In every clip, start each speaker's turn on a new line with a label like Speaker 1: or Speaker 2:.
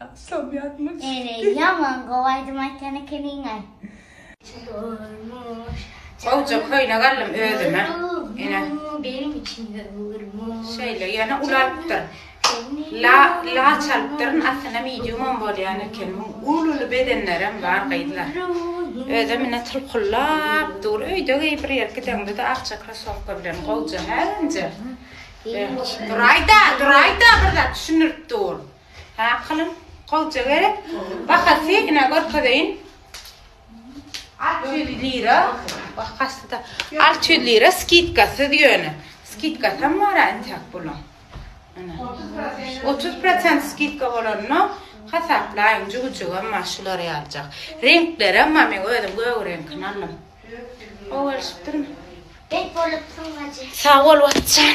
Speaker 1: Akşam
Speaker 2: ýatmyş. Ere ýaman gowy aýdym aýtýan
Speaker 1: ekeniňaý. Çykarmyş. Gowja köýnek aldym özüme. Ene. Benim için de
Speaker 2: vurmuş. Şeýle ýöne uly
Speaker 1: alypdyr. La la çalypdyryn aslynda mediumam bolýan eken. Uly uly bedenlerem bar gyzlar. Özem ine tylkyllap dur. Öýde geý bir ýer gideňde-de akja krosowka bilen gowja hä önje. Duraýda, duraýda bir zat düşündirip dur. Hakylyň gowja gerek. Bahasy ine görkezeýin. 600 lira. Bahasy-da 600 lira skidkasyz ýöne. Skidkasy hem bar-a entäk boluň. 30% skidka bolanda hasaplaýyň, jübüjigem bar, şulary aljak. Reňklerem bar, men özüm gök reňkini aldym. Gowy gelişipdirmi? Bet bolupsyň
Speaker 2: bajy. Sag bol, Watjan.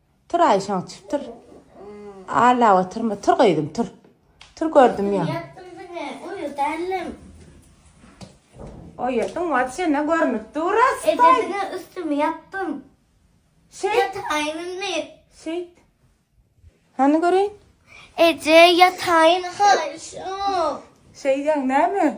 Speaker 1: Tur Aýşaň çüp tur. Allap oturma. Tur gyzym tur. Tur gördüm ýa. Ýatdym diňe
Speaker 2: uýa dälem.
Speaker 1: Oýadyň wapşe ne görnüp dur a Eje spaý. diňe üstümi
Speaker 2: ýapdym. Şeýt
Speaker 1: Ýataýyn indi.
Speaker 2: şeýt.
Speaker 1: Hany göreýin. Eje
Speaker 2: ýataýyn haýyşym. Şeýdýäň
Speaker 1: näme?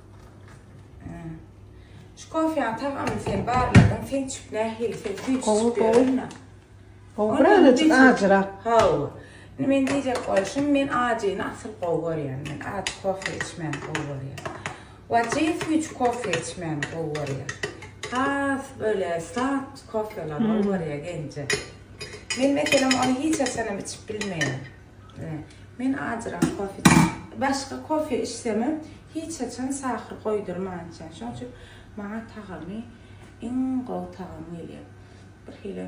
Speaker 1: Şu kofeýaň tagamyny sen barladyň, sen çüp nähili, sen süýt içip ýörenmi? Gowy,
Speaker 3: birazajyk ajyrak. Hawa. Indi
Speaker 1: men diýjek bolşum, men ajyny asyl gowy görýän. Men ajy kofe içmäni gowy görýän. Wajy süýt kofe içmäni gowy görýän. Has böyle slat kofeler gowy görýän genje. Men meselem ony hiç haçanam içip bilmeýän. Men ajyrak kofe içýän. Başga kofe içsemem, hiç haçan sahyr goýdurman içýän. Şonuň üçin maňa tagamy iň gowy tagam gelýär. Bir hili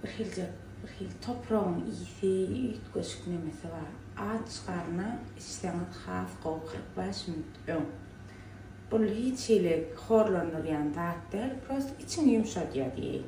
Speaker 1: bir hilje bir hili topragyň ysy, üýtgeşik nemesi bar. Aç garna içseňiz has gowy kyrk bäş minut öň. Bul hiç hili horlandyrýan zat däl, prosta içiňi ýumşadýar diýeýin.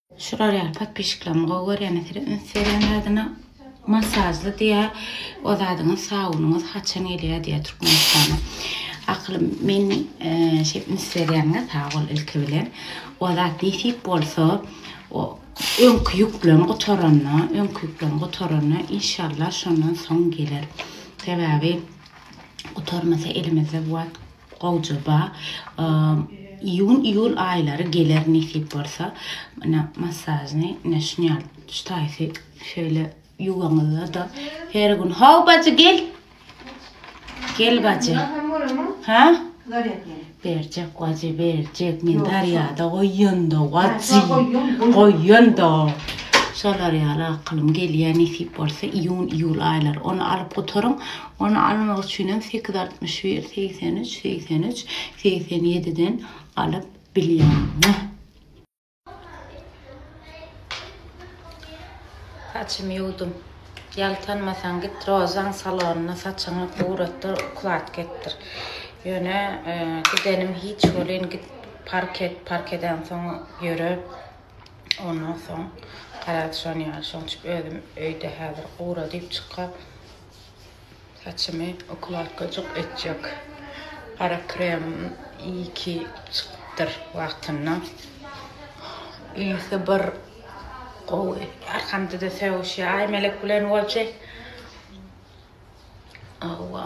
Speaker 1: Şular ýaly podpişiklerimi gowy görýän eseri üns berýän zadyna masajly diýä o zadyňyz sabunyňyz haçan gelýä diýä türkmenistana akylym men e, şeýp üns berýäňiz sag bol ilki bilen o zat nesip bolsa o öňki ýüklen gutaranda öňki ýüklen gutaranda inşallah şondan soň geler sebäbi gutarmasa elimizde bu wagt Gowja ba iýun iýul aýlary geler nesip bolsa mena massažny ne şnyal ştaýsy şeýle ýuwaňyzda da her gün haw bajy gel gel bajy ha berjek bajy berjek men darýada goýýanda bajy goýýanda şolar ýaly akylym gelýär nesip bolsa iýun iýul aýlary ony alyp gutaryň Ony almak üçinem sekiz altmyş bir segsen üç segsen üç segsen ýediden alyp bilýäň. Saçymy ýuwdum. Ýaltanmasaň git Rozan salonyna saçyňy guratdyr, ukladka etdir. Ýöne gidenim hiç welin git park et, park edensoň ýöre. Ondan soň garaz şony ýaly şoň üçin özüm öýde häzir gura diýip çyka Saçymy ukladkajyk etjek gara kremim iyi ki çykypdyr wagtynda. Ysy bir gowy. Arkamda-da sögüşýär. Aýmelek bilen bolçy. Hawa.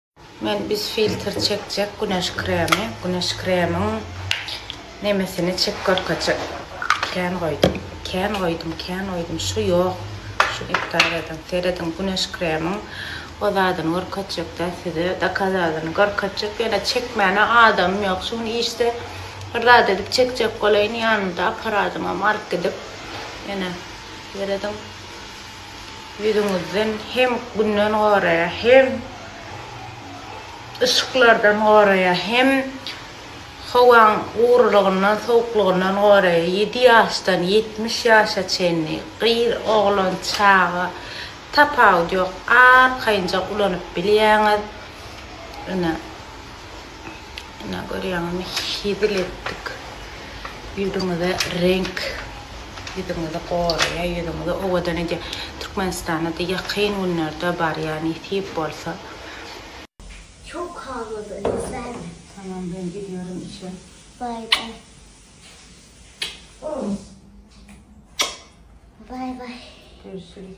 Speaker 1: Men biz filter çekjek güneş kremi güneş kremiň nemesini çek görkezjek kän goýdum kän goýdum kän goýdum şu ýok şu iptal ediň serediň güneş kremiň o zadyny görkezjekdä size dakazadyny görkezjek ýöne çekmäne adamym ýok şu gün işde bir zat edip çekjek bolaýyn ýanymda aparadymam alyp gidip ýöne serediň Ýüzüňizden hem günden goraýar hem yşyklardan goraýar hem howaň gurulygyndan sowuklygyndan goraýar ýedi ýaşdan ýetmiş ýaşa çenli gyz oglan çaga tapawut ýok arkaýynja ulanyp bilýäňiz ine Ine görýäňizmi hezil etdik. Ýüzüňize reňk ýüzüňizi goraýar, ýüzüňizi owadan edýär. Türkmenistana-da ýakyn günlerde barýar nesip bolsa. Çok kavgadan izleme. Tamam ben gidiyorum işe. Bay bay. Bay bay.
Speaker 2: Görüşürüz.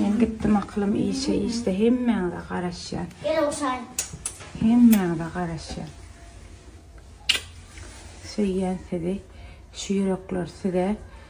Speaker 1: Men gitdim akylym işe işte hemmäňize garaşýan. Gel oşan.
Speaker 2: Hemmäňize
Speaker 1: garaşýan. Söýýän sizi. Şu ýürekler size.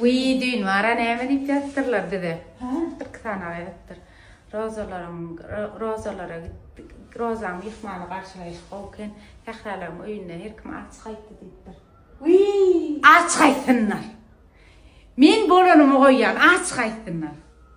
Speaker 1: Wiý, düýn wara näme diýip ýazdyrlar bize? Hä? Bir kitana ýazypdyr. Rozalaryň, rozalara gitdik. Rozaň myhmany garşylaýyş gowy eken. Sähralaryň öýünde her kim aç gaýtdy diýipdir. Wiý! Aç gaýtsynlar. Men bolanymy goýýan, aç gaýtsynlar.